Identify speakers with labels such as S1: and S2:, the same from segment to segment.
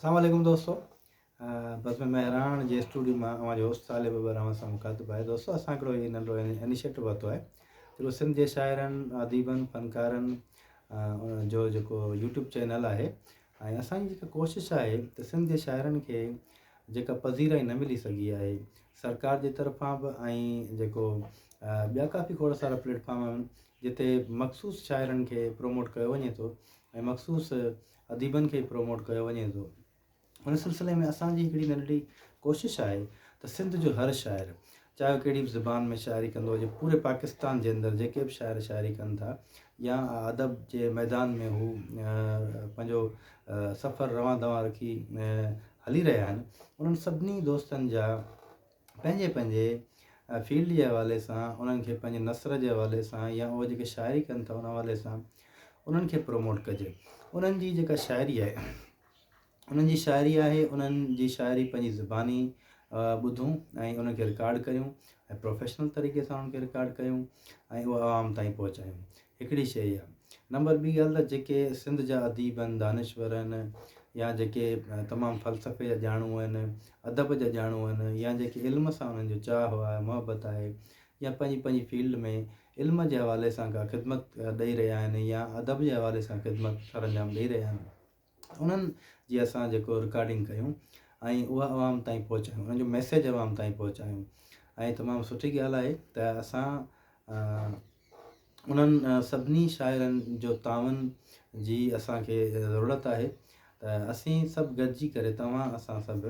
S1: اسلام عليڪم دوستو بزم مهراڻ جي اسٽوڊيو مان اوهان جو هوسٽ طالب ابر اوهان سان مخاطب آهي دوستو اسان هڪڙو هي ننڍو انيشيٽو ورتو آهي جيڪو سنڌ جي شاعرن اديبن فنڪارن جو جيڪو يوٽيوب چينل آهي ۽ اسان جي جيڪا ڪوشش آهي ته سنڌ جي شاعرن کي جيڪا پذيرائي نه ملي سگهي آهي سرڪار جي طرفان به ۽ جيڪو ٻيا ڪافي کوڙ سارا پليٽفارم آهن جتي مخصوص شاعرن کي پروموٽ ڪيو وڃي ٿو ۽ مخصوص اديبن کي پروموٽ ڪيو وڃي ٿو ان سلسلي ۾ اسان جي هڪڙي ننڍڙي ڪوشش آهي ته سنڌ جو هر شاعر چاهي هو ڪهڙي به زبان ۾ شاعري ڪندو هجي پوري پاڪستان جي اندر جيڪي به شاعر شاعري ڪن ٿا يا ادب جي ميدان ۾ هو پنهنجو سفر روان دوان رکي هلي رهيا آهن انهن سڀني دوستن جا پنهنجي پنهنجي فيلڊ جي حوالي سان انهن کي پنهنجي نثر جي حوالي سان يا اهي جيڪي شاعري ڪن ٿا ان حوالي سان انهن کي پروموٽ ڪجي انهن جي جيڪا شاعري آهي انهن جي شاعري آهي انهن جي شاعري پنهنجي زباني ٻڌون ۽ انهن کي رڪارڊ ڪيون ۽ پروفيشنل طريقي سان انهن کي رڪارڊ ڪيون ۽ اهو عوام تائين پهچايون هڪڙي شيء اها. نمبر ٻي ڳالهه ته جيڪي سنڌ جا اديب آهن، دانشور آهن يا جيڪي تمام فلسفي جا ڄاڻو آهن، ادب جا ڄاڻو آهن يا جيڪي علم سان انهن جو چاهه آهي، محبت آهي يا پنهنجي پنهنجي فيلڊ ۾ علم جي حوالي سان ڪا خدمت ڏئي رهيا آهن يا ادب جي حوالي سان خدمت سرانجام ڏئي رهيا آهن. انهن جي اسان جيڪو رڪارڊنگ ڪيون ۽ اها عوام تائين پهچايون انهن جو ميسيج عوام تائين پهچايون ۽ تمام سٺي ڳالهه آهي ته اسان انهن سڀني شاعرن جو تعاون جي اسان کي ضرورت آهي ته اسين سڀ گڏجي ڪري توهان اسان سڀ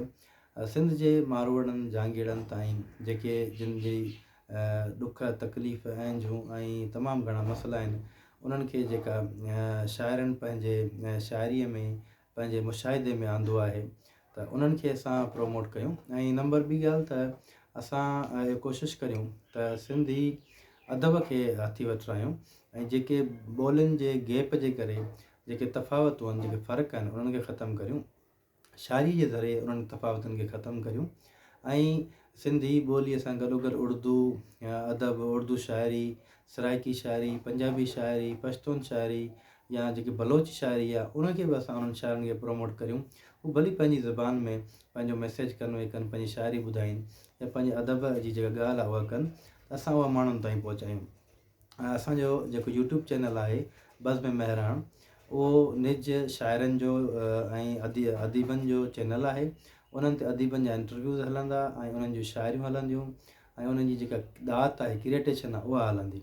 S1: سنڌ جي ماروئڙن جهانگيئڙن تائين جيڪي جن جي ڏک، تڪليف، اهنجون ۽ تمام گهڻا مسئلا آهن، انهن کي جيڪا شاعرن پنهنجي شاعريء ۾ پنهنجي مشاهدي ۾ آندو آهي ته انهن کي اسان پروموٽ ڪيون ۽ نمبر ٻي ڳالهه ته اسان اهو ڪوشش ڪريون ته سنڌي ادب کي هٿي وٺرايون ۽ جيڪي ٻولين جي گيپ جي ڪري جيڪي تفاوتون آهن جيڪي فرق آهن انهن کي ختم ڪريون. شاعريء جي ذريعي انهن تفاوتن کي ختم ڪريون ۽ سنڌي ٻوليء سان گڏوگڏ اڙدو ادب، اڙدو شاعري، سرائيڪي شاعري، پنجابي شاعري، پشتون شاعري يا جيڪي بلوچ شاعري آهي، ان کي به اسان انهن شاعرن کي پروموٽ ڪريون. هو ڀلي پنهنجي زبان ۾ پنهنجو ميسيج ڪنوي ڪن، پنهنجي شاعري ٻڌائين يا پنهنجي ادب جي جيڪا ڳالهه آهي اها ڪن ته اسان اها ماڻهن تائين پهچايون. اسان جو جيڪو يوٽيوب چينل آهي بزم مهراڻ اهو نج شاعرن جو ۽ اديبن جو چينل آهي انهن تي اديبن جا انٽرويوز هلندا ۽ انهن جون شاعريون هلنديون ۽ انهن جي جيڪا ڏات آهي ڪريٽيشن آهي اها هلندي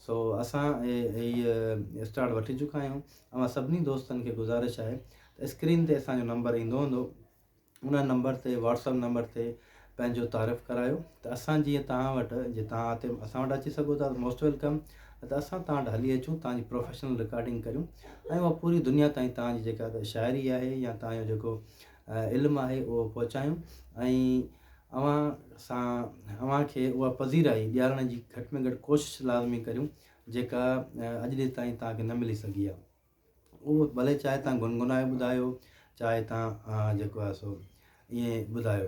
S1: سو اسان هي اسٽارٽ وٺي چڪا آهيون اوهان سڀني دوستن کي گذارش آهي اسڪرين تي اسان جو نمبر ايندو هوندو ان نمبر تي واٽس اپ نمبر تي پنهنجو تعارف ڪرايو ته اسان جيئن توهان وٽ جي توهان هتي اسان وٽ اچي سگهو ٿا ته موسٽ ويلڪم نه ته اسان توهان وٽ هلي اچون توهان جي پروفيشنل رڪارڊنگ ڪريون ۽ اها پوري دنيا تائين توهان جي جيڪا شاعري آهي يا توهان جو جيڪو علم آهي اهو پهچايون ۽ اوهان سان اوهان کي اها پذيرائي ڏيارڻ جي گهٽ ۾ گهٽ ڪوشش لازمي ڪريون جيڪا اڄ ڏي تائين توهان کي نه ملي سگهي آهي اهو ڀلي چاهي تان گنگنائي ٻڌايو چاهي تان جيڪو آهي سو ائين ٻڌايو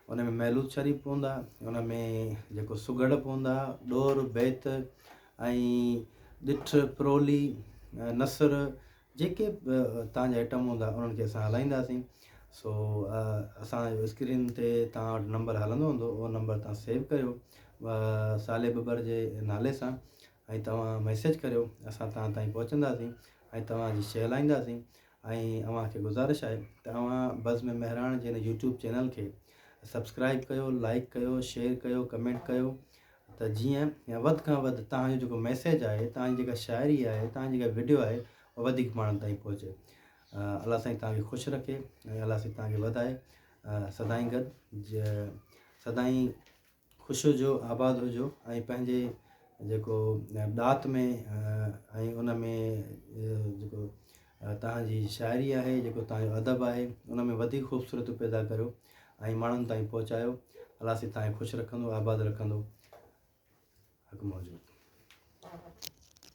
S1: ان ۾ محلوت شريف پوندا ان ۾ جيڪو سگهڙ پوندا ڏور بيت ۽ ڏٺ پرولي نثر جيڪي تان جا آئٽم هوندا انهن کي اسان هلائينداسين سو اسان جو اسڪرين تي تان وٽ نمبر هلندو هوندو اهو نمبر تان سيو ڪيو صالح ٻٻر جي نالي سان ۽ توهان ميسيج ڪريو اسان توهان تائين پهچنداسين ۽ توهان جي شيء هلائينداسين ۽ اوهان کي گذارش آهي ته اوهان بزم مهراڻ جي هن يوٽيوب چينل کي سبسڪرائب ڪيو لائيڪ ڪيو شيئر ڪيو ڪمينٽ ڪيو ته جيئن وڌ کان وڌ توهان جو جيڪو ميسيج آهي توهان جي جيڪا شاعري آهي توهان جي جيڪا ويڊيو آهي اها وڌيڪ ماڻهن تائين پهچي الله سائين توهان کي خوش رکي ۽ الله سائين توهان کي وڌائي سدائين گڏ سدائين خوش هجو آباد هجو ۽ پنهنجي جيڪو ڏات ۾ ۽ ان ۾ جيڪو تهان جي شاعري آهي جيڪو تهان جو ادب آهي ان ۾ وڌيڪ خوبصورتيون پيدا ڪريو ۽ ماڻهن تائين پهچايو الله سي تهان کي خوش رکندو آباد رکندو حڪم موجود